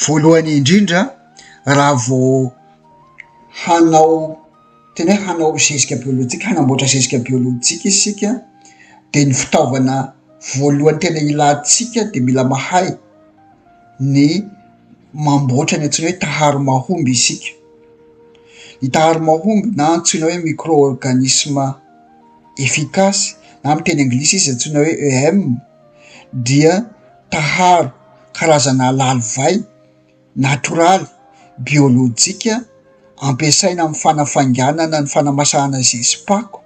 Voalohany indrindra raha vao hanao tena hoe hanao zezika biolojika hanamboatra zezika biolojika isika dia ny fitaovana voalohany tena ilantsika dia mila mahay ny mamboatra ny antsoina hoe taharo mahomby isika, ny taharo mahomby na antsoina hoe micro organisme efficace na amin'ny teny anglisy izy antsoina hoe EM. dia taharo karazana lalivay natoraly, biolojika, ampiasaina amin'ny fanafainganana ny fanamasahana zezi-pako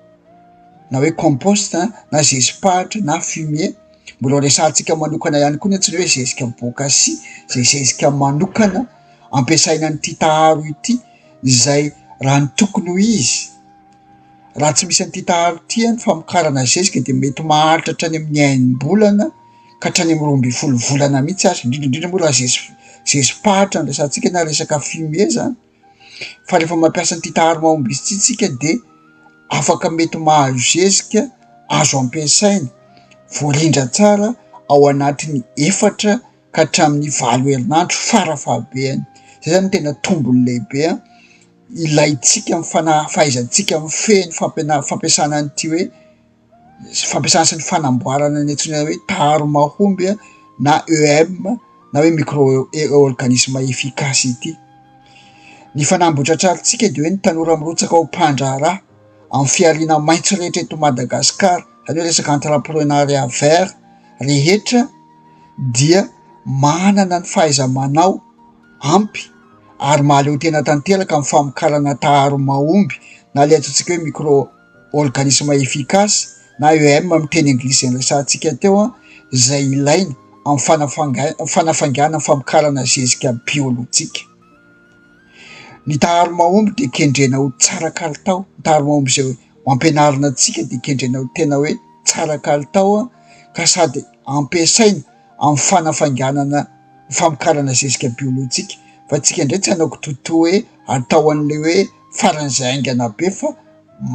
na hoe compost na zezi-pahitra na fumier, mbola resahantsika manokana ihany koa ny antsoina hoe zezika bôkasia izay zezika manokana ampiasaina an'ity taharo ity izay raha ny tokony ho izy. Raha tsy misy an'ity taharo ity ny famokarana ny zezika dia mety maharitra hatrany amin'ny enim-bolana ka hatrany amin'ny roa ambin'ny folo volana mihitsy aza, indrindra indrindra moa raha zeziky zezi-pahitra no resahantsika na resaka fumier zany fa rehefa mampiasa an'ity taharo mahomby izy ity tsika dia afaka mety mahazo zezika azo ampiasaina, voarindra tsara ao anatin'ny efatra ka hatramin'ny valo herinandro fara fahabehany, zay zany no tena tombony lehibe a. ilaintsika, fahaizantsika mifehy ny fampianarana fampiasana an'ity hoe fampiasana sy ny fanamboarana ny antsoina hoe taro mahomby na EM na hoe micro organisme efficace ity. Ny fanamby hotratrarintsika dia hoe ny tanora mirotsaka ho mpandraharaha amin'ny fihariana maitso rehetra eto Madagasikara, izany hoe resaka entreprenariat vert rehetra dia manana ny fahaiza-manao. ampy ary mahaleotena tanteraka amin'ny famokarana taharo mahomby na ilay antsointsika hoe micro-organismes efficaces na EM amin'ny teny anglisy izay niresahantsika teo izay ilaina amin'ny fanafanga- fanafaingana ny famokarana zezika biolojika. Ny taharo mahomby dia kendrena ho tsara kalitao, ny taharo mahomby izay ho ampianarina antsika dia kendrena ho tena hoe tsara kalitao ka sady ampiasaina, amin'ny fanafainganana ny famokarana zezika biolojika fa antsika indray tsy hanao kitoto hoe atao an'ilay hoe faran'izay haingana be fa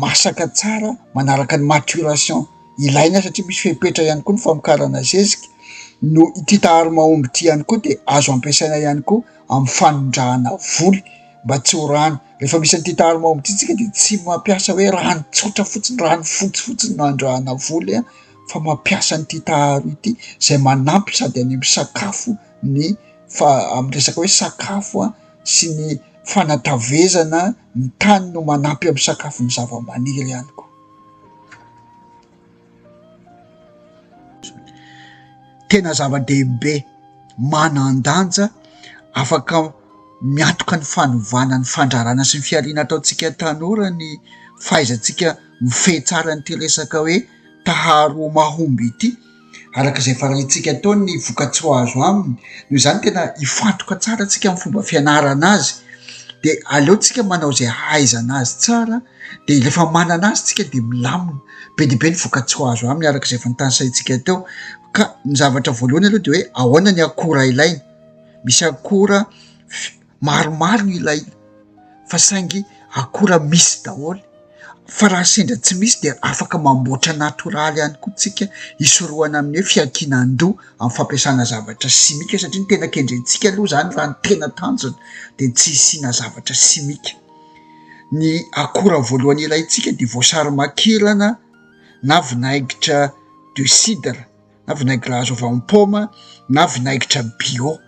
masaka tsara manaraka ny maturation ilaina satria misy fepetra ihany koa ny famokarana zezika no ity taharo mahomby ity ihany koa dia azo ampiasaina ihany koa amin'ny fanondrahana voly mba tsy ho rano rehefa misy an'ity taharo mahomby ity tsika dia tsy mampiasa hoe rano tsotra fotsiny rano fotsifotsiny no andrahana voly a fa mampiasa an'ity taharo ity izay manampy sady any amin'ny sakafo ny fa- amin'ny resaka hoe sakafo a sy ny fanatavezana ny tany no manampy amin'ny sakafo ny zava-maniry ihany koa tena zava-dehibe manan-danja afaka miatoka ny fanovana ny fandrarana sy ny fihariana ataontsika tanora ny fahaizantsika mifehy tsara an'ity resaka hoe taharo mahomby ity, araka izay farahintsika atao ny vokatsoa azo aminy, noho izany tena hifantoka tsara tsika amin'ny fomba fianarana azy dia aleontsika manao izay hahaizana azy tsara dia rehefa manana azy tsika dia milamina be dia be ny vokatsoa azo aminy araka izay fantansahintsika teo ka ny zavatra voalohany aloha dia hoe ahoana ny akora ilaina, misy akora. maromaro no ilaina fa saingy akora misy daholo fa raha sendra tsy misy dia afaka mamboatra natoraly ihany koa tsika hisorohana amin'ny hoe fiankinan-doha amin'ny fampiasana zavatra simika satria ny tena kendrentsika aloha zany raha ny tena tanjona dia tsy hisiana zavatra simika ny akora voalohany ilaintsika dia voasary makirana na vinaigitra de cidre na vinaigitra azo avy amin'ny paoma na vinaigitra bio,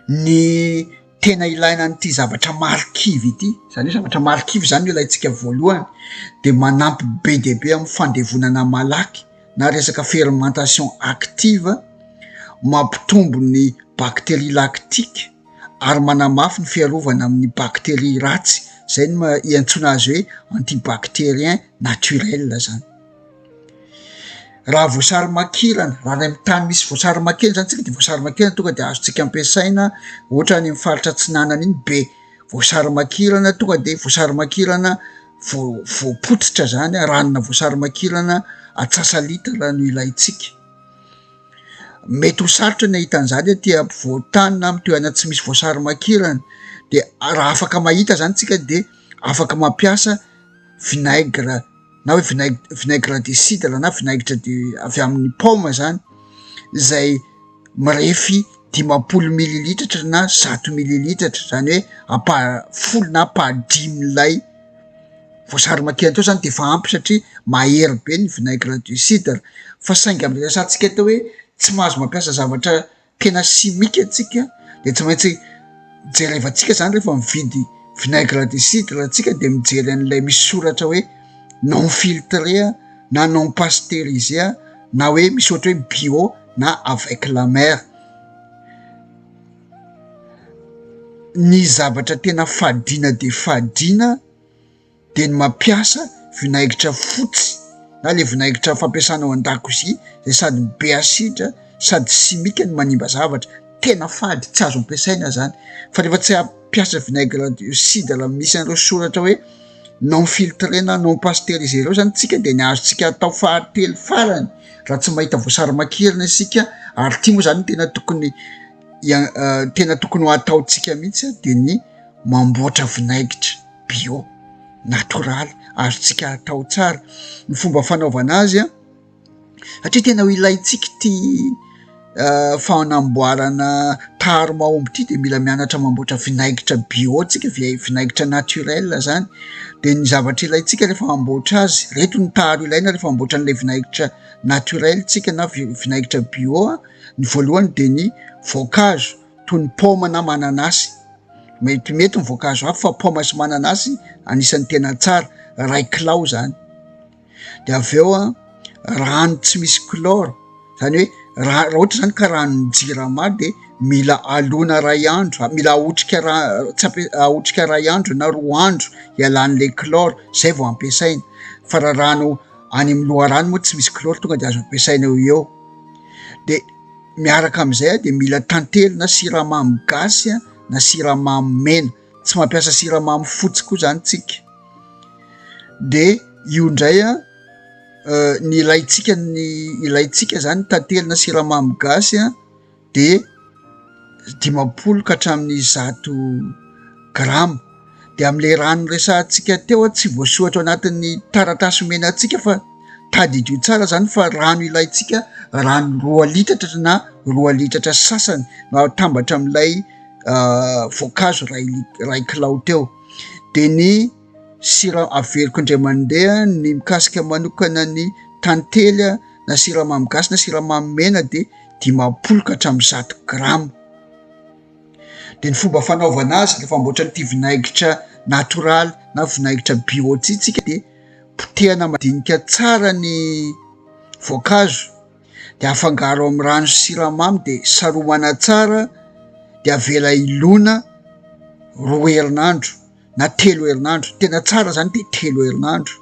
ny tena ilaina an'ity zavatra marikivy ity, zany hoe zavatra marikivy zany no ilaintsika voalohany de manampy be dia be amin'ny fandevonana malaky na resaka fermentation active, mampitombo ny bacterie lactique ary manamafy ny fiarovana amin'ny bacterie ratsy, zay no ma- iantsoana azy hoe anti-bacterien naturel zany. Raha voasary makirana, raha any amin'ny tany misy voasary makirana zany tsika de voasary makirana tonga de azontsika ampiasaina ohatra any amin'ny faritra atsinanana iny be voasary makirana tonga de voasary makirana voa- voapotsitra zany a, ranona voasary makirana antsasa-litra raha no ilaintsika, mety ho sarotra ny ahita an'zany aty ampovoan-tany na amy toerana tsy misy voasary makirana de raha afaka mahita zany tsika de afaka mampiasa vinaigre. na hoe vinaigitra vinaigre de cidre na vinaigitra de avy amin'ny paoma zany zay mirefy dimampolo mililitatra na zato mililitatra zany hoe ampahany folo na ampahany dimy lay voasary makirana teo zany de efa ampy satria mahery be ny vinaigre de cidre fa saingy am'le resahantsika atao hoe tsy mahazo mampiasa zavatra tena simika antsika dia tsy maintsy jerevantsika izany rehefa mividy vinaigre de cidre antsika dia mijery an'ilay misy soratra hoe non filtre na non pasteuriser na hoe misy ohatra hoe bio na avec la mer ny zavatra tena fadiana dia fadiana dia ny mampiasa vinaigitra fotsy na le vinaigitra fampiasana ao an-dakozia izay sady be asidra sady simika no manimba zavatra tena fady tsy azo ampiasaina zany fa rehefa tsy hampiasa vinaigre dioxyde raha misy an'ireo soratra hoe non filtré na non pasteurisé ireo zany tsika dia ny azontsika atao fahatelo farany raha tsy mahita voasary makirina isika ary tia moa zany tena tokony tena tokony ho ataontsika mihitsy dia ny mamboatra vinaigitra bio, natoraly, azontsika atao tsara ny fomba fanaovana azy an! satria tena ho ilaintsika ity fanamboarana tary mahomby ity dia mila mianatra mamboatra vinaigitra bio tsika, vinaigitra naturel zany dia ny zavatra ilaintsika rehefa hamboatra azy, ireto ny tary ilaina rehefa hamboatra an'ilay vinaigitra naturel tsika na vinaigitra bio an! ny voalohany dia ny voankazo. toy ny paoma na mananasy. Metimety ny voankazo hafa fa paoma sy mananasy anisan'ny tena tsara, iray kilao izany. Dia avy eo an, rano tsy misy chlore, izany hoe raha raha ohatra izany ka ranon'ny jirama dia mila alona iray andro, mila ahotrika ra- tsy ampiasa- ahotrika iray andro na roa andro hialan'ilay chlore, izay vao ampiasaina. Fa raha rano any amin'ny loharano moa tsy misy chlore, tonga dia azo ampiasaina eo ho eo. Dia. Miaraka amin'izay dia mila tantely na siramamy gasy na siramamy mena, tsy mampiasa siramamy fotsy koa zany tsika de io ndray a ny ilaitsika ny ilaitsika zany tantely na siramamy gasy a de dimampolo ka hatramin'ny zato grama. dia amin'ilay raha noresahantsika teo tsy voasohatra ao anatin'ny taratasy omena antsika fa tadidio tsara izany fa rano ilaintsika rano roa litatra na roa litatra sasany no atambatra amin'ilay ah, voankazo ray ray kilao teo dia ny sira averiko indray mandeha ny mikasika manokana ny tantely a na siramamy gasy na siramamy mena dia dimampolo ka hatramin'ny zato grama Dia ny fomba fanaovana azy rehefa hamboatra an'ity vinaigitra natoraly na vinaigitra bio ity isika dia potehana madinika tsara ny voankazo dia afangaro amin'ny rano sy siramamy dia saromana tsara dia avela hilona roa herinandro. na telo herinandro tena tsara zany ty telo herinandro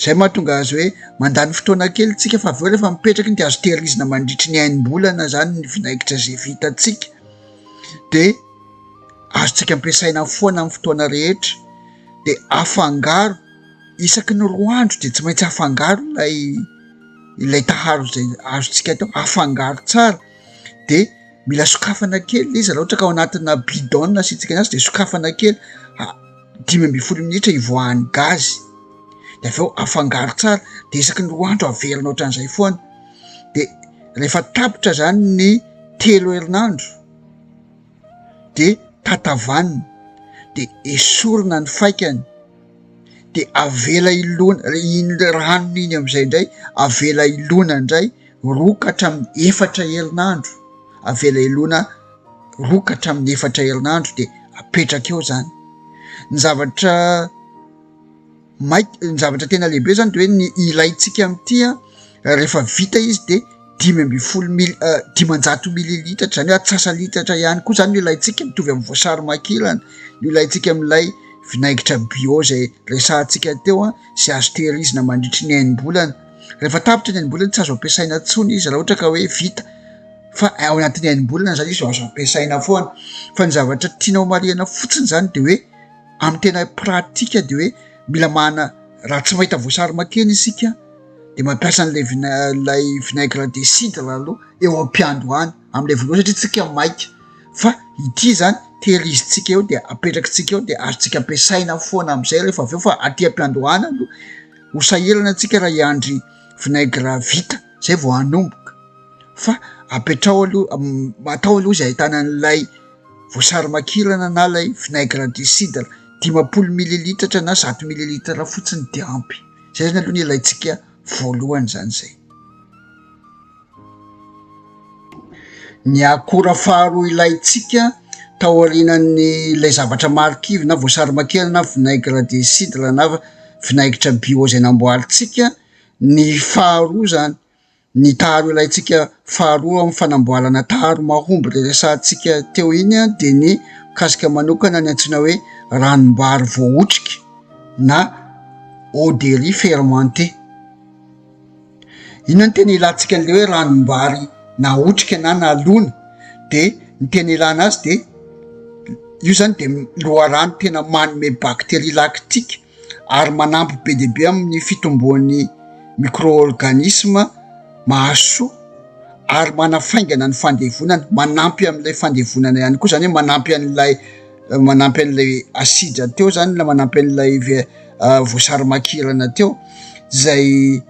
zay mahatonga azy hoe mandany fotoana kely tsika fa avy eo rehefa mipetraky ny de azo tehirizina mandritry ny hainmbolana zany ny vinaigitra zay vitatsika de azotsika ampiasaina foana amin'ny fotoana rehetra de afangaro isaky ny roa andro de tsy maintsy afangaro ilay ilay taharo zay azotsika atao afangaro tsara de mila sokafana kely le izy raha ohatra ka ao anatina bidon asiantsika azy de sokafana kely a dimy ambin'ny folo minitra hivoahan'ny gazy de avy eo afangaro tsara de isaky ny roa andro averina ohatran'izay foana de rehefa tapitra zany ny telo herinandro de tatavanina de esorina ny faikany dia avela hilona iny rano iny amin'izay indray avela hilona indray roa ka hatramin'ny efatra herinandro, avela hilona roa ka hatramin'ny efatra herinandro dia apetraka eo zany, ny zavatra maika- ny zavatra tena lehibe zany de hoe ny ilaintsika amin'ity an. rehefa vita izy de dimy ambin'ny folo mili- uh, dimanjato mililitatra zany hoe atsasalitatra ihany koa zany no ilaintsika mitovy amin'ny voasary makilana no ilaintsika amin'ilay vinaigitra bio zay resahantsika teo a sy azo tehirizina mandritry ny hainimbolana rehefa tapitra ny hainimbolana tsy azo ampiasaina ntsony izy raha ohatra ka hoe vita fa ao anatin'ny hainimbolana zany izy azo ampiasaina foana fa ny zavatra tiana ho marihana fotsiny zany de hoe amin'ny tena pratika de hoe mila mahana raha tsy mahita voasary makena isika de mampiasa an'ilay vina- lay vinaigre de cidre aloha eo am-piando any am'ilay voalova satria tsika maika fa ity zany tehirizintsika eo de apetraky tsika eo de azotsika ampiasaina foana am'izay rehefa avy eo fa aty am-piando any aloha ho sahirana antsika raha hiandry vinaigre vita zay vao hanomboka fa apetrao aloha atao aloha izy ahitana an'ilay voasary makirana na lay vinaigre de cidre dimampolo mililitatra na zato mililitatra fotsiny de ampy Izay zany aloha no ilaintsika voalohany zany izay. Ny akora faharoa ilaintsika taorianan'ny ilay zavatra marikivy na voasary makirana na vinaigre de cidre na vinaigitra bio izay namboarintsika ny faharoa zany Ny taharo ilaintsika faharoa amin'ny fanamboarana taharo mahomby ilay resahantsika teo iny dia ny mikasika manokana ny antsoina hoe ranom-bary voahotrika na eau de riz fermentée. Inona ny tena ilantsika an'ilay hoe ranom-bary nahotrika na nalona dia ny tena ilana azy dia io izany dia loharano tena manome bakteria laktika. ary manampy be dia be amin'ny fitomboan'ny micro-organisme mahasoa ary manafaingana ny fandevonana, manampy amin'ilay fandevonana ihany koa, izany hoe manampy an'ilay manampy an'ilay asidra teo izany na manampy an'ilay ve- voasarimakirana teo izay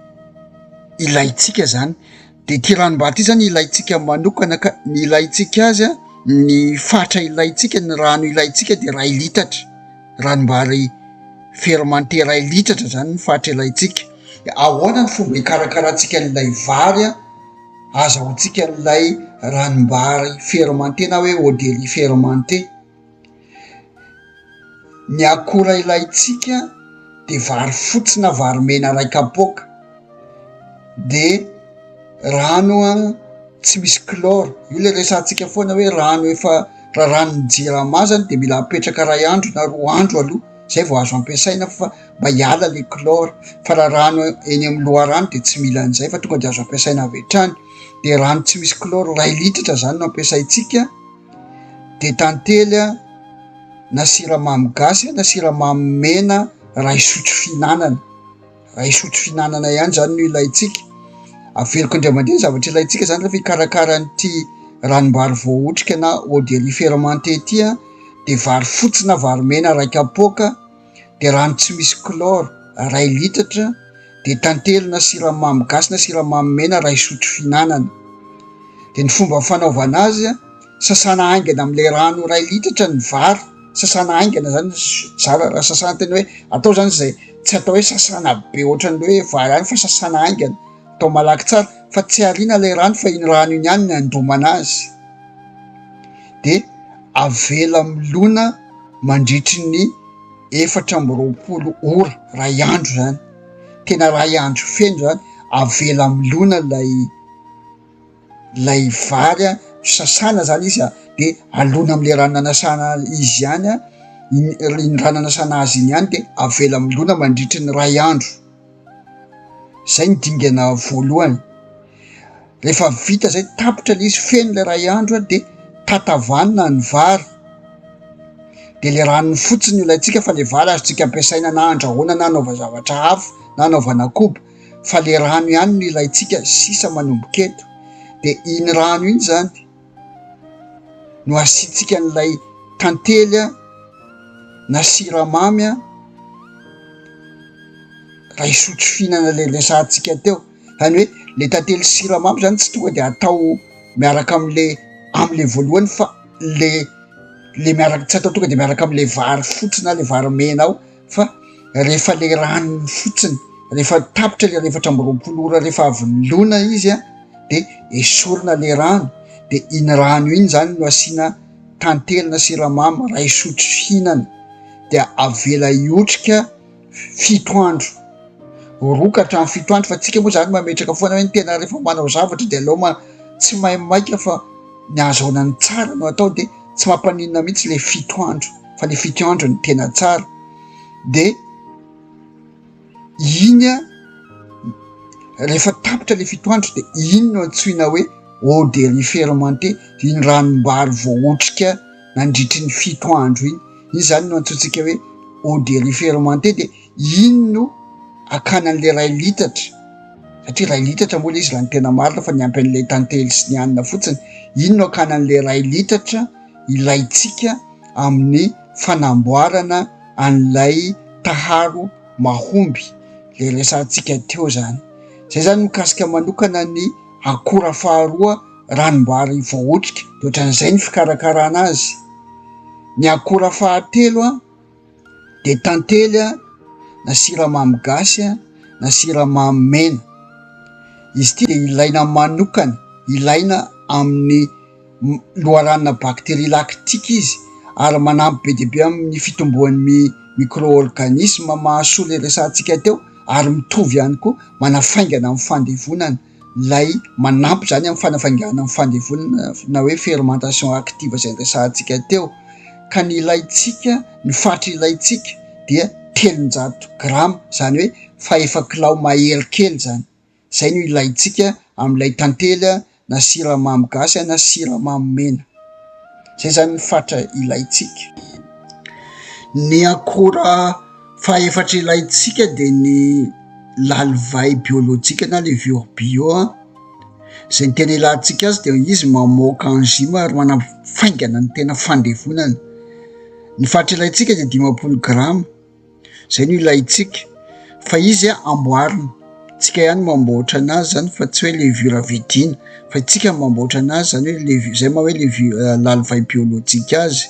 ilaintsika izany. Dia ity ranom-bato izany ilaintsika manokana ka ny ilaintsika azy, ny fatra ilaintsika, ny rano ilaintsika dia iray litatra, ranom-bary fermenté iray litatra izany ny fatra ilaintsika. Dia ahoana ny fomba hikarakarantsika an'ilay vary azahoantsika an'ilay ranom-bary fermenté na hoe eau de riz fermenté? Ny akora ilaintsika dia vary fotsy na vary mena iray kapoaka, dia rano tsy misy chlore, io ilay resahantsika foana hoe rano efa raràn'ny jirama zany dia mila apetraka iray andro na roa andro aloha zay vao azo ampiasaina fa mba hiala ilay chlore, fa raha rano eny amin'ny loharano dia tsy mila an'izay fa tonga dia azo ampiasaina avy hatrany, dia rano tsy misy chlore iray litatra zany no ampiasaintsika. dia tantely a na siramamy gasy na siramamy mena iray sotro fihinanana iray sotro fihinanana ihany izany no ilaintsika averiko indray mandeha ny zavatra ilaintsika izany rehefa hikarakara an'ity ranom-bary voahotrika na eau de riz fermenté ity dia vary fotsy na vary mena iray kapoaka dia rano tsy misy chlore iray litatra dia tantely na siramamy gasy na siramamy mena iray sotro fihinanana dia ny fomba fanaovana azy sasana haingana amin'ilay rano iray litatra ny vary sasana haingana zany zara raha sasana tena hoe atao zany zay tsy atao hoe sasana be ohatran'ny hoe vary any fa sasana haingana atao malaky tsara fa tsy ariana ilay rano fa iny rano iny ihany ny andomana azy dia avela milona mandritry ny efatra amby roapolo ora, iray andro izany, tena iray andro feno izany, avela milona ilay ilay vary an, sasana izany izy an, dia alona amin'ilay rano nanasana izy ihany an, iny rano nanasana azy iny ihany dia avela milona mandritry ny iray andro. zay ny dingana voalohany, rehefa vita zay tapitra le izy feno le ray andro de tatavanina ny vary de le ranony fotsiny no alaintsika fa le vary azontsika ampiasaina na andrahoana na anaovana zavatra hafa na anaovana koba fa le rano ihany no ilaintsika sisa manomboka eto de iny rano iny zany no asiantsika an'ilay tantely na siramamy iray sotro fihinana ilay resahantsika teo, izany hoe le tantely sy siramamy zany tsy tonga de atao miaraka amle amle voalohany fa le le miaraka tsy atao tonga de miaraka amle vary fotsy na le vary mena ao. fa rehefa ilay rano iny fotsiny, rehefa tapitra ilay iray efatra amby roapolo ora rehefa avy nolona izy dia esorina ilay rano dia iny rano iny izany no asiana tantely na siramamy iray sotro fihinana dia avela hiotrika fito andro, roa ka hatramin'ny fito andro fa isika moa izany mametraka foana hoe ny tena rehefa manao zavatra dia aleo ma- tsy maimaika fa ny hahazoana ny tsara no atao dia tsy mampaninona mihitsy ilay fito andro. fa ny fitiandro ny tena tsara de iny a rehefa tapitra le fitoandro de iny no antsoina hoe eau de riz fermenté iny ranom-bary voaotrika nandritry ny fito andro iny iny zany no antsointsika hoe eau de riz fermenté de iny no akana an'le ray litatra satria ray litatra moa le izy raha ny tena marina fa ny ampy an'ilay tantely sy ny anina fotsiny iny no akana an'le ray litatra ilaintsika amin'ny fanamboarana an'ilay taharo mahomby izay resahantsika teo izany. Izay izany mikasika manokana ny akora faharoa ranom-bary voahotrika, dia ohatran'izay ny fikarakarana azy. Ny akora fahatelo. de tantely a, na siramamy gasy a, na siramamy mena, izy ity de ilaina manokana, ilaina amin'ny loharana bacterie lactique izy ary manampy be dia be amin'ny fitomboan'ny micro-organisme mahasoa le resahantsika teo ary mitovy ihany koa manafaingana amin'ny fandevonana. ilay manampy izany amin'ny fanafainganana ny fandevonana na hoe fermentation active izay niresahantsika teo ka ny ilaintsika, ny faritry ilaintsika dia telonjato grama izany hoe fahefa kilao mahery kely izany, izay no ilaintsika amin'ilay tantely na siramamy gasy na siramamy mena, izay izany ny faritra ilaintsika. Ny akora. Fahefatra ilaintsika dia ny lalivay biolojika na levure bio a, izay ny tena ilantsika azy dia izy mamoaka enzyme ary manafaingana ny tena fandevonana, ny faritra ilaintsika dia dimampolo grama, izay no ilaintsika fa izy a amboarina, tsika ihany mamboatra an'azy izany fa tsy hoe levure vidiana fa isika no mamboatra an'azy izany hoe levu- izay moa hoe levu- lalivay biolojika azy.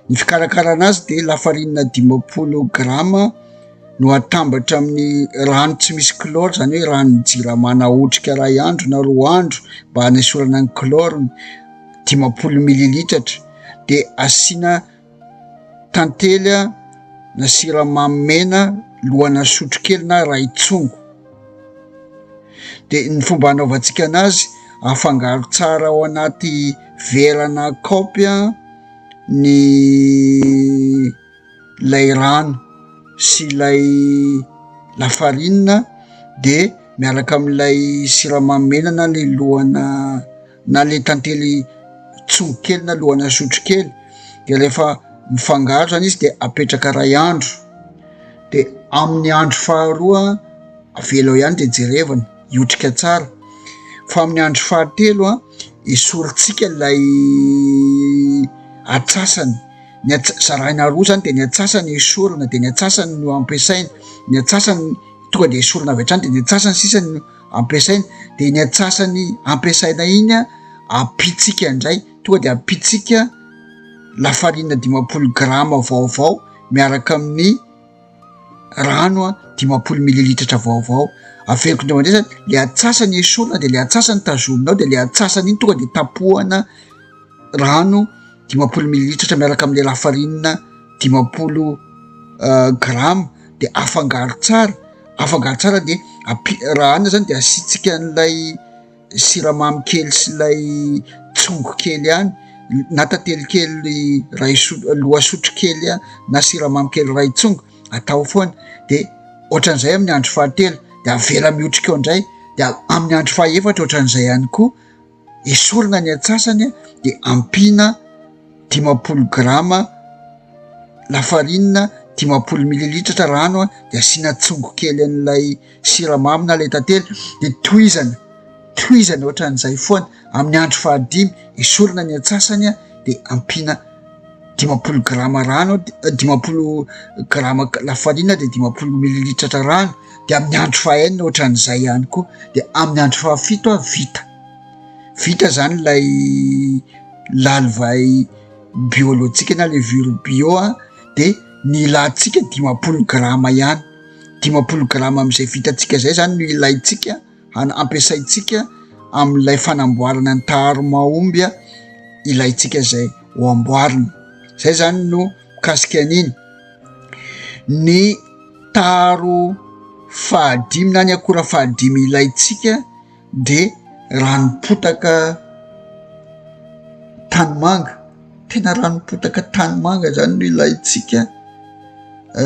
Ny fikarakarana azy dia lafarinina dimampolo grama no atambatra amin'ny rano tsy misy kloro zany hoe rano jirama na otrika ray andro na roa andro mba hanesorana ny kloro dimampolo mililitatra dia asiana tantely na siramamy mena lohana sotrokelina ray tsongo dia ny fomba hanaovantsika an'azy afangaro tsara ao anaty vera na kaopy ny ilay rano sy ilay lafarinina dia miaraka amin'ilay siramamy mena na ny lohana na le tantely tsoho kely na lohana sotro kely de rehefa mifangaro zany izy de apetraka ray andro de amin'ny andro faharoa avela ao ihany de jerevana hiotrika tsara fa amin'ny andro fahatelo a esorintsika lay atsasany ny ats- zaraina roa zany de ny atsasany esorina de ny atsasany no ampiasaina ny atsasany tonga de esorina avy hatrany de ny atsasany sisany ampiasaina de ny antsasany ampiasaina iny a ampitsika indray tonga de ampitsika lafarina dimapolo grama vaovao miaraka amin'ny rano a dimapolo mililitratra vaovao averiko indray mandeha zany le antsasany esorina de le antsasany tazomina ao de le antsasany iny tonga de tapohana rano dimampolo mililitratra miaraka amin'ny lafarinina dimampolo grama de afangaro tsara afangaro tsara de ampi- raha anona zany de asiantsika an'ilay siramamy kely sy ilay tsongo kely ihany na tantely kely ray so- lohasotro kely a na siramamy kely ray tsongo atao foana de ohatran'izay amin'ny andro fahatelo de avela mihotrika ao indray de amin'ny andro fahaefatra ohatran'izay ihany koa esorina ny antsasany dia ampiana dimampolo grama lafarinina dimampolo mililitratra rano an dia asiana tsongo kely an'ilay siramamy na ilay tantely dia tohizana tohizana ohatran'izay foana amin'ny andro fahadimy esorina ny antsasany an dia ampiana dimampolo grama rano dia dimampolo grama lafarina dia dimampolo mililitratra rano dia amin'ny andro fahenina ohatran'izay ihany koa dia amin'ny andro fahafito a vita vita zany lay lalivay biolojika na le viro bio a de ny ilantsika dimampolo grama ihany dimampolo grama am'izay vitantsika zay zany no ilaintsika ampiasaintsika amin'ilay fanamboarana ny taharo mahomby ilaintsika izay ho amboarina. Izay izany no mikasika an'iny. Ny taharo fahadimy na ny akora fahadimy ilaintsika dia ranom-potaka tanimanga. Tena ranom-potaka tanimanga izany no ilaintsika,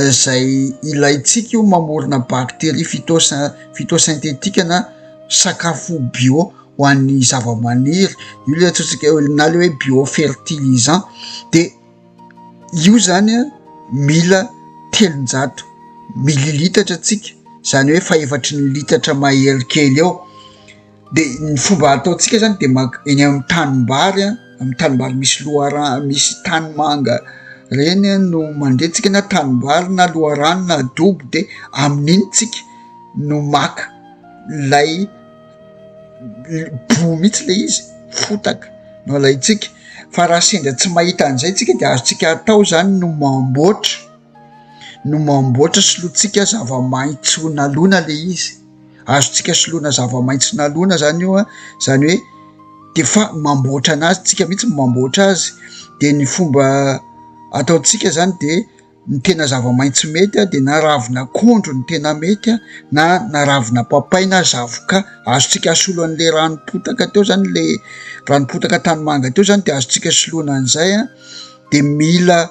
izay ilaintsika io mamorona bacterie phyto- phytosynthétique na sakafo bio ho an'ny zava-maniry, io le antsointsika hoe na le hoe bio fertilisant de io zany a mila telonjato mililitatra tsika, zany hoe fahefatry ny litatra mahery kely eo. de ny fomba ataontsika zany de mak- eny amin'ny tanimbary a amin'ny tanimbary misy loharano misy tany manga reny a no mandretsika na tanimbary na loharano na dobo de amin'iny tsika no maka lay l- boho mihitsy le izy fotaka no alaintsika fa raha sendra tsy mahita an'izay tsika de azontsika atao zany no mamboatra no mamboatra solontsika zava-maitso nalona le izy azontsika soloina zava-maitso nalona zany io a, zany hoe de fa mamboatra anazy, tsika mihitsy no mamboatra azy, de ny fomba ataontsika zany de ny tena zava-maitso mety a de na ravin'akondro no tena mety a, na na ravina papay na zavoka, azontsika asolo an'le rano potaka teo zany le rano potaka tanimanga teo zany de azontsika soloina an'izay a, de mila.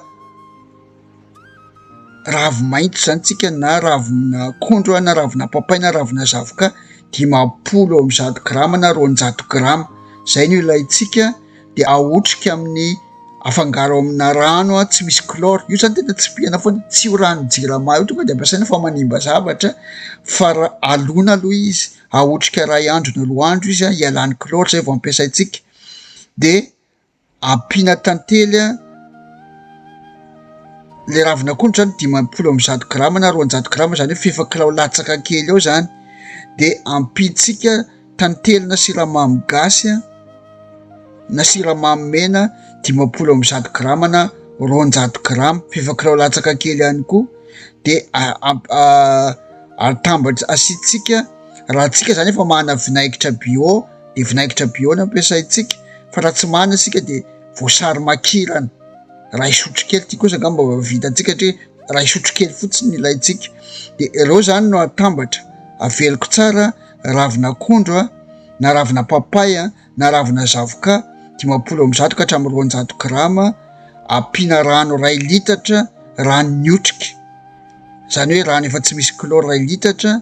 Ravi-maitso izany tsika na ravin'akondro na ravin'apapay na ravina zavoka dimampolo amby zato grama na roanjato grama izay no ilaintsika dia ahotrika amin'ny afangaro amina rano aho tsy misy kloro io zany tena tsy pihana foana tsy ho rano jirama io tonga de ampiasaina fa manimba zavatra fa raha alona aloha izy ahotrika ray andro na roa andro izy ah hialany kloro izay vao ampiasaintsika dia Ampiana tantely an. Ilay ravin'akondro zany dimampolo amby zato grama na roanjato grama zany hoe f'efa kilao latsaka kely eo zany de ampiantsika tantely na siramamy gasy an na siramamy mena dimampolo amby zato grama na roanjato grama f'efa kilao latsaka kely ihany koa de atambatra asiantsika raha tsika zany efa manana vinaigitra bio. dia vinaingitra bio no ampiasaintsika fa raha tsy manana isika dia voasary makirana iray sotrokely, ity kosa angamba mba vitantsika satria iray sotrokely fotsiny no ilaintsika, dia ireo izany no atambatra, aveloko tsara, ravin'akondro na ravina papay na ravina zavoka dimampolo amby zato ka hatramin'ny roanjato grama, ampiana rano iray litatra, rano miotrika, izany hoe rano efa tsy misy kloro iray litatra.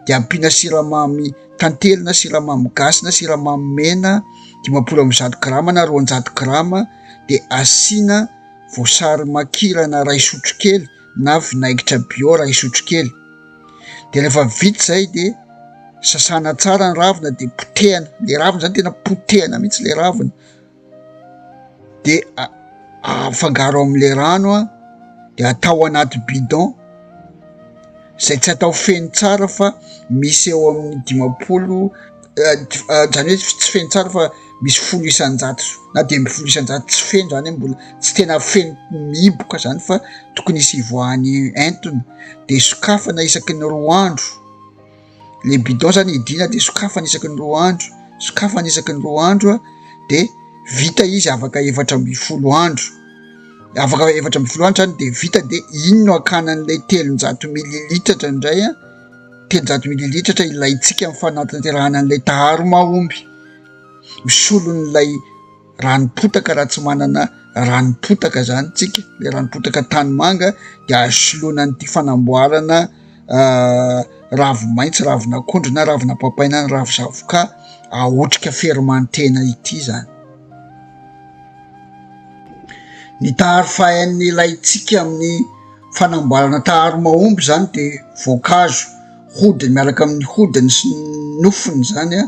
dia ampiana siramamy tantely na siramamy gasy na siramamy mena dimampolo amby zato grama na roanjato grama dia asiana voasary makirana iray sotrokely na vinaigitra bio iray sotrokely dia rehefa vita izay dia sasana tsara ny ravina dia potehana le ravina zany tena potehana mihitsy le ravina de afangaro amle rano an de atao anaty bidon izay tsy atao feno tsara fa misy eo amin'ny dimampolo zany hoe tsy feno tsara fa misy folo isanjato na dimy amby folo isanjato tsy feno zany hoe mbola tsy tena feno mihiboka zany fa tokony hisy hivoahany entona de sokafana isaky ny roa andro le bidon zany hidiana de sokafana isaky ny roa andro sokafana isaky ny roa andro a de vita izy afaka efatra amby folo andro afaka efatra amby folo andro zany de vita de iny no akana an'ilay telonjato mililitatra indray a telonjato mililitatra ilayntsika ny fanatanterahana an'ilay taharo mahomby misolon'ilay ranom-potaka raha tsy manana ranom-potaka zany tsika le ranom-potaka tany manga de asolona an'ity fanamboarana ah, ravi-maitso ravin'akondro na ravina papaina ny ravi-zavoka ahotrika fermantena ity zany ny taharo fahain'ny ilay tsika amin'ny fanamboarana taharo mahomby zany de voankazo hodiny miaraka amin'ny hodiny sy nofony zany a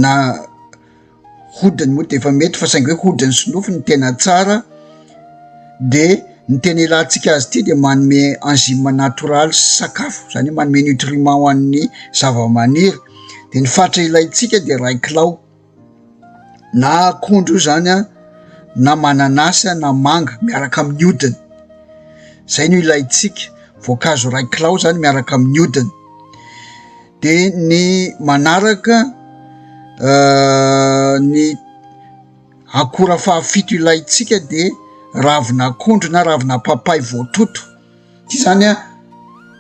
na Hodiny moa dia efa mety fa saingy hoe hodiny sy nofony no tena tsara de ny tena ilantsika azy ity dia manome enzyme natoraly sy sakafo izany hoe manome nutriment ho an'ny zavamaniry de ny fatra ilaintsika dia iray kilao na akondro io zany an na mananasy an na manga miaraka amin'ny hodiny zay no ilaintsika voankazo iray kilao zany miaraka amin'ny hodiny De ny manaraka ny akora fahafito ilaintsika de ravin'akondro na ravina papay voatoto, ty zany a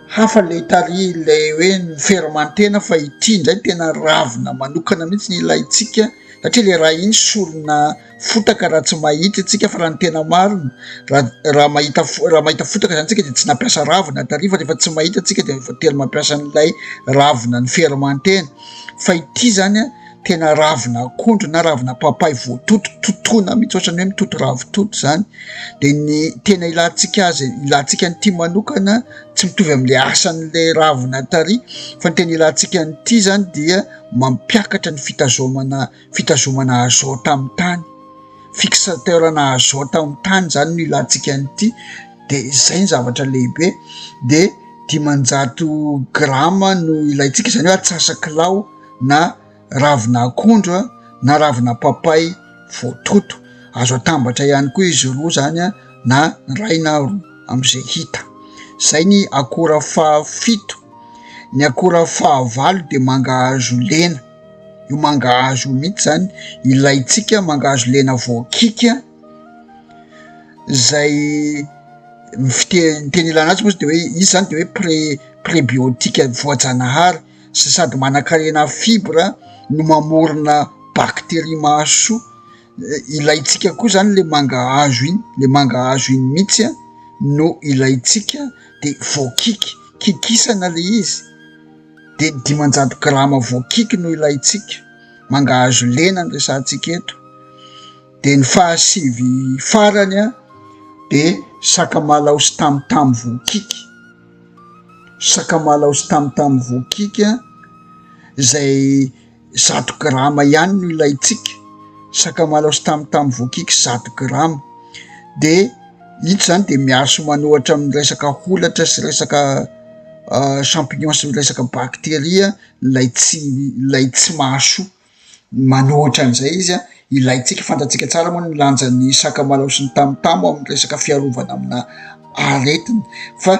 hafa le tary le hoe ny fermantena fa ity ndray tena ravina manokana mihitsy ny ilaintsika satria le raha iny solona. fotaka raha tsy mahita isika fa raha ny tena marina raha raha mahita fo- raha mahita fotaka zany tsika de tsy nampiasa ravina tary fa rehefa tsy mahita tsika de efa tena mampiasa an'ilay ravina ny fermentena fa ity zany a tena ravina akondro na ravina papay voatoto totoina mihitsy ohatrany hoe mitoto ravitoto zany de ny tena ilantsika azy ilantsika an'ity manokana tsy mitovy am'le asan'le ravina tary fa ny tena ilantsika an'ity zany dia mampiakatra ny fitazomana fitazomana azote amin'ny tany, fixateur-na azote amin'ny tany izany no ilantsika an'ity dia izay ny zavatra lehibe dia dimanjato grama no ilaintsika izany hoe atsasak'ilao na ravina akondro na ravina papay voatoto, azo atambatra ihany koa izy roa izany an na iray na roa amin'izay hita, izay ny akora fahafito, ny akora fahavalo dia mangahazo lena. io mangahazo io mihitsy zany ilaintsika, mangahazo lena voakiky an, zay ny fite- ny teny ilana azy moa izy de hoe izy zany de hoe pre- prebiotique voajanahary sy sady manan-karena fibres no mamorona bacterie mahasoa, ilaintsika koa zany le mangahazo iny, le mangahazo iny mihitsy an no ilaintsika de voakiky, kikisana le izy. dia ny dimanjato grama voakiky no ilaintsika, mangahazo lena no resahantsika eto, dia ny fahasivy farany dia sakamalaho sy tamotamo voakiky, sakamalaho sy tamotamo voakiky izay. Zato grama ihany no ilaintsika, sakamalaho sy tamotamo voakiky zato grama, dia ito izany dia miaro sy manôhatra amin'ny resaka holatra sy resaka champignon sy resaka bakteria ilay tsy ilay tsy mahasoa, manôhatra an'izay izy an. Ilaintsika, fantatsika tsara moa ny lanjan'ny sakamalaho sy ny tamotamo amin'ny resaka fiarovana amina aretina fa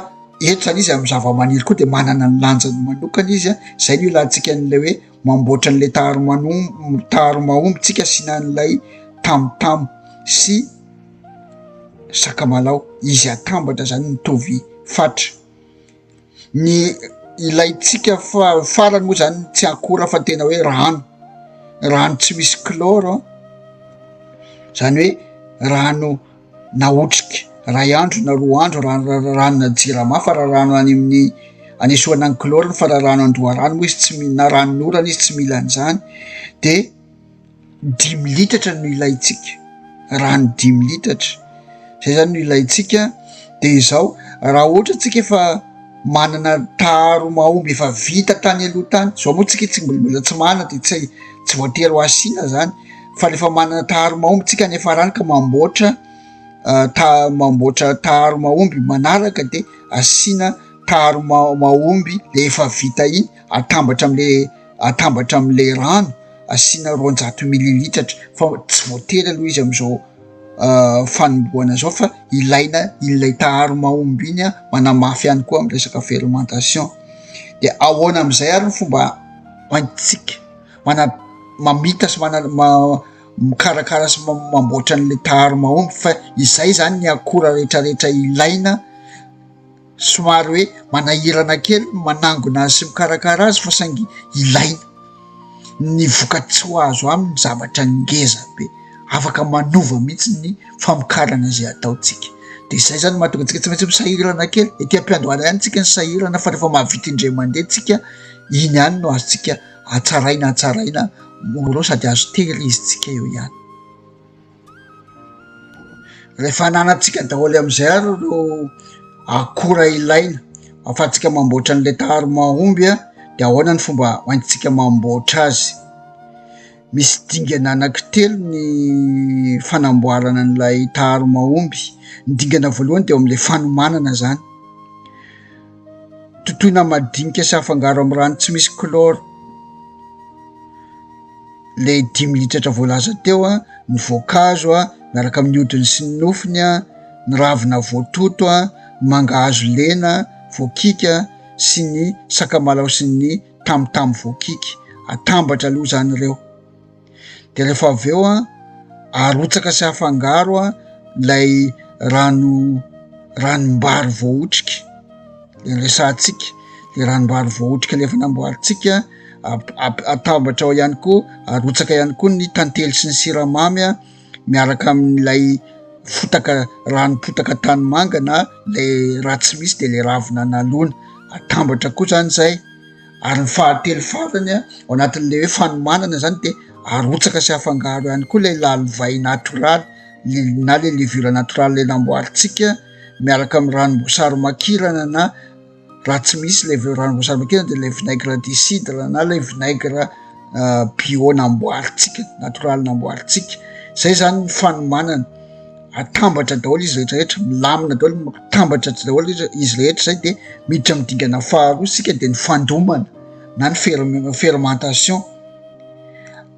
eto zany izy amin'ny zavamaniry koa de manana ny lanjany manokana izy a, zay no ilantsika an'ilay hoe mamboatra an'ilay taromanomb- taromahomby tsika asiana an'ilay tamotamo sy sakamalaho, izy atambatra zany mitovy fatra. Ny ilaintsika fa farany moa zany tsy akora fa tena hoe rano, rano tsy misy kloro zany hoe rano nahotrika iray andro na roa andro ra- ra- ranona jirama fa raha rano any amin'ny anesorana ny kloro fa raha rano an-doharano moa izy tsy mi- na ranon'orana izy tsy mila an'izany de. dimy litatra no ilaintsika, rano dimy litatra, izay zany no ilaintsika, de izao raha ohatra tsika efa manana taharo mahomby efa vita tany aloha tany, zao moa tsika tsy mbola mbola tsy manana de tsy hay tsy voatery ho asiana zany fa rehefa manana taharo mahomby tsika any Farany ka mamboatra ta- mamboatra taharo mahomby manaraka de asiana taharo ma- mahomby le efa vita iny atambatra am'le. atambatra amin'ilay rano asiana roanjato mililitatra fa tsy voatery aloha izy amin'izao ah, fanombohana izao fa ilaina ilay taharo mahomby iny a manamafy ihany koa amin'ny resaka fermentation dia ahoana amin'izay ary ny fomba hoentintsika mana mamita sy mana ma mikarakara sy mamboatra an'ilay taharo mahomby fa izay zany ny akora rehetrarehetra ilaina Somary hoe manahirana kely ny manangona azy sy mikarakara azy fa saingy ilaina. Ny vokatry ho azo aminy zavatra ngeza be, afaka manova mihitsy ny famokarana izay ataontsika. De izay zany mahatonga antsika tsy maintsy misahirana kely, ety am-piandohana ihany tsika ny sahirana fa rehefa mahavita indray mandeha tsika, iny ihany no azontsika hatsaraina hatsaraina morao sady azo tehirizintsika eo ihany. Rehefa ananantsika daholo amin'izay ary ireo akora ilaina ahafahantsika mamboatra ny letary mahomby dia ahoana ny fomba hoentintsika mamboatra azy? Misy dingana anaky telo ny fanamboarana an'ilay taharo mahomby. Ny dingana voalohany dia eo amin'ilay fanomanana izany. Totoina madinika sy afangaro amin'ny rano tsy misy chlore ilay dimy litatra voalaza teo, ny voankazo miaraka amin'ny hodiny sy ny nofony, ny ravina voatoto, ny mangahazo lena voakiky sy ny sakamalao sy ny tamotamo voakiky. Atambatra aloha izany ireo. de rehefa avy eo an arotsaka sy afangaro an ilay rano ranom-bary voahotrika le resahantsika le ranom-bary voahotrika le efa namboarintsika ap- atambatra ao ihany koa arotsaka ihany koa ny tantely sy ny siramamy an miaraka amin'ilay fotaka ranom-potaka tany manga na le raha tsy misy de le ravina nalona atambatra koa zany zay ary ny fahatelo farany ao anatin'ilay hoe fanomanana izany dia arotsaka sy afangaro ihany koa ilay lalivay natoraly na ilay levure natoraly ilay namboarintsika miaraka amin'ny ranom-boasary makirana na raha tsy misy levure ranom-boasary makirana dia ilay vinaigre du cidre na ilay vinaigre euh, bio namboarintsika natoraly namboarintsika izay izany ny fanomanana atambatra daholo izy retrarehetra milamina daholo atambatra tsy daholo izy izy rehetra zay de miditra am dingana faharoa sika de ny fandomana na ny ferm- fermentation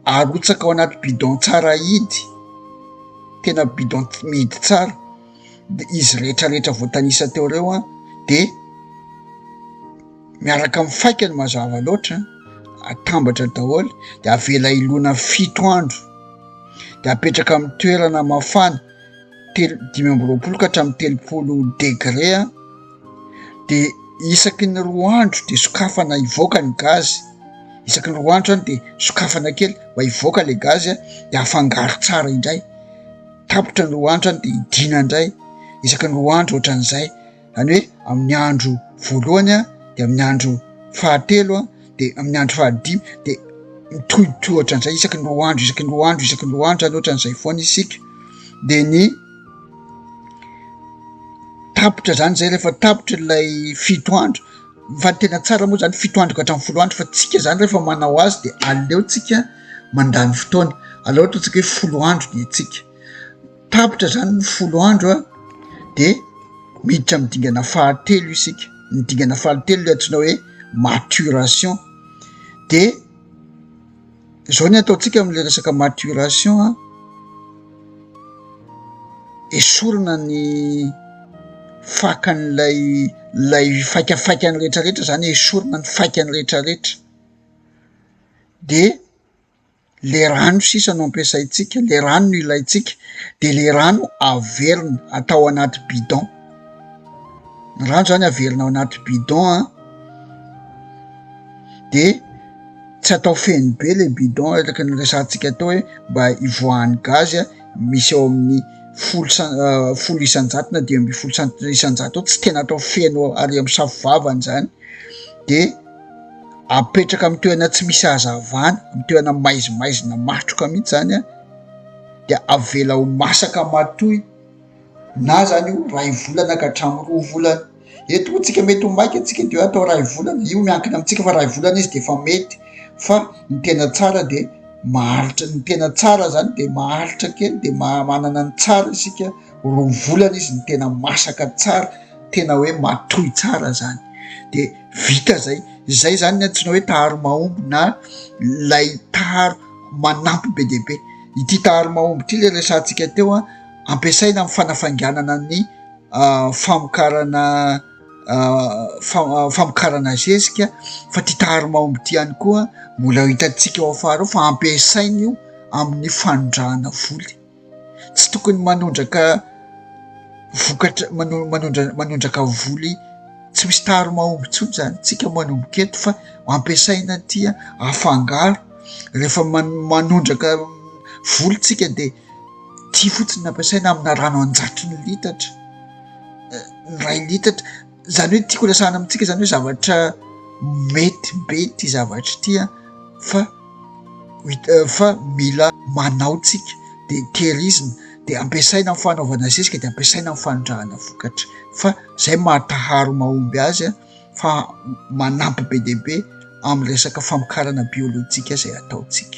arotsaka ao anaty bidon tsara ahidy tena bidon mihidy tsara de izy retrarehetra voatanisa teo reo a de miaraka amin'ny faikany mazava loatra atambatra daholo de avela ilona fito andro de apetraka amin'ny toerana mafana telo dimy amby roapolo ka hatramin'ny telopolo degre a de isaky ny roa andro de sokafana hivoaka ny gazy isaky ny roa andro any de sokafana kely mba hivoaka le gazy a de afangaro tsara indray tapitra ny roa andro any de hidina indray isaky ny roa andro ohatran'izay zany hoe amin'ny andro voalohany a de amin'ny andro fahatelo a de amin'ny andro fahadimy de mitohitohy ohatran'izay isaky ny roa andro isaky ny roa andro isaky ny roa andro zany ohatran'izay foana isika de ny tapitra zany zay rehefa tapitra ilay fito andro fa ny tena tsara moa zany fito andro ka hatramin'ny folo andro fa tsika zany rehefa manao azy de aleotsika mandany fotoana aleo ataontsika hoe folo andro ny antsika Tapitra zany ny folo andro a de miditra amin'ny dingana fahatelo isika, ny dingana fahatelo le antsoina hoe maturation de zao ny ataontsika am'le resaka maturation a, esorina ny fakan'ilay lay faikafaikany retraretra zany esorina ny faikany retraretra de. Ilay rano sisa no ampiasaintsika, ilay rano no ilaintsika, dia ilay rano averina atao anaty bidon. Ny rano izany averina ao anaty bidon an, dia tsy atao feno be ilay bidon araka ny resahantsika teo hoe mba hivoahan'ny gazy an, misy eo amin'ny folo san- folo isan-jato na dimy ambin'ny folo cent- isan-jato eo, tsy tena atao feno ary amin'ny safo vavany izany dia. apetraka amin'ny toerana tsy misy hazavana, amin'ny toerana maizimaizina matroka mihitsy zany an, dia avela ho masaka matoy na zany io iray volana ka hatramin'ny roa volana, eto moa tsika mety ho maika tsika dia atao iray volana, io miankina amintsika fa iray volana izy dia efa mety fa ny tena tsara dia maharitra, ny tena tsara zany dia maharitra kely dia maha manana ny tsara isika, roa volana izy no tena masaka tsara, tena hoe matoy tsara zany dia. Vita zay, zay zany ny antsoina hoe taharo mahomby na lay taharo manampy be dia be. Ity taharo mahomby ity le resahantsika teo a, ampiasaina amin'ny fanafainganana ny famokarana famokarana zezika fa ty taharo mahomby ity ihany koa mbola hitantsika ao afara ao fa ampiasaina io amin'ny fanondrahana voly. tsy tokony manondraka vokatra manondrana manondraka voly tsy misy tary mahomby intsony izany tsika manomboka eto fa ampiasaina tia afangaro rehefa manondraka voly tsika dia tia fotsiny nampiasaina amina rano anjato ny litatra eh, ny ray litatra zany hoe tiako resahana amintsika zany hoe zavatra mety be ty zavatra ity a fa mit- fa mila manao tsika de tehirizina de ampiasaina am fanaovana zezika de ampiasaina am fanondrahana vokatra fa zay mahataharo mahomby azy a fa manampy be de be amy resaka famokarana biolojika zay ataontsika